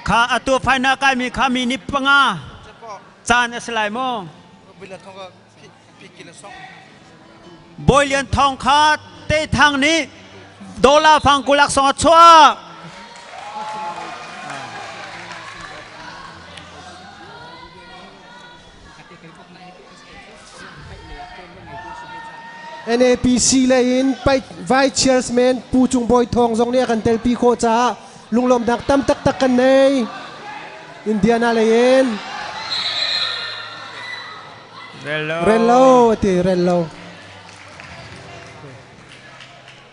Kha atu faina kaimi kha mi ni panga caan a si lai maw? Bawi Lian Thawng kha te thang nih dollar fang kulak song a chuah. NAPC lei in Vice Chairman Pu Cung Bawi Thawng zong nih a kan telpi khawh caah lunglawmhnak tam taktak kan nei. Indiana lei in. Rello. Rello, ati, rello.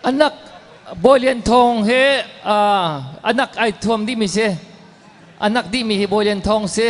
Anak Bawi Lian Thawng he uh, anak ai thuam dih mi si. Anak dih mi hi Bawi Lian Thawng si.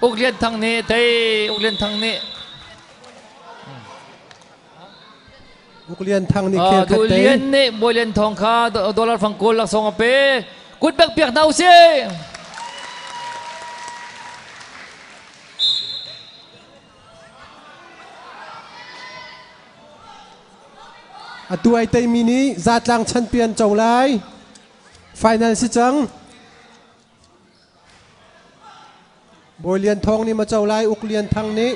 Uk Lian Thang nih thei Uk Lian Thang nih Uk Lian Thang nih khe Du Lian nih Bawi Lian Thawng kha dollar fangkawl laksawng a pe kut bek piak hna usih atu ai teimi nih zatlang chanpian co lai final si cang Bawi Lian Thawng nih maco lai Uk Lian Thang nih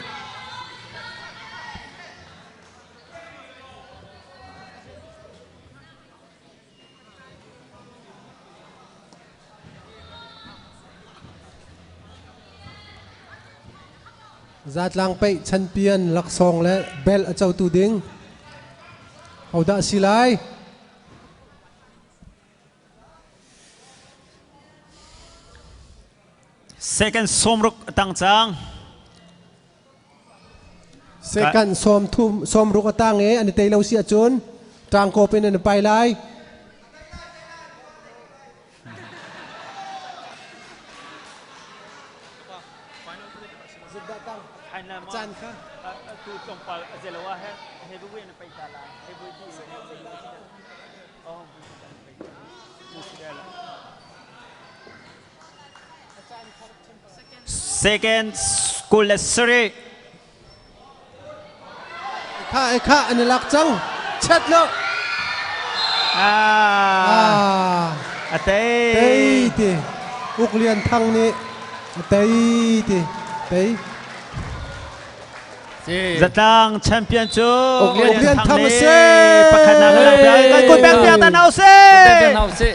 zatlang peih chanpian laksawng le bel a cotu ding hodah si lai Second sawmruk a tang cang. Second sawm thum sawmruk a tang e ani tei lo si acun tangkop in an pai lai. Can kha tu tlawmpal a zelo a he heavyweight na pai ta la heavyweight Second school le seri. Ekha ekha an lak chau. Chat lo. Ah. Atei. Tei ti. Uk Lian Thang ni. Atei ti. Tei. Zatlang champion cu Uk Lian Thang a si. Pakhatnak kan lang piak. Kan kun pek piak ta hna usih.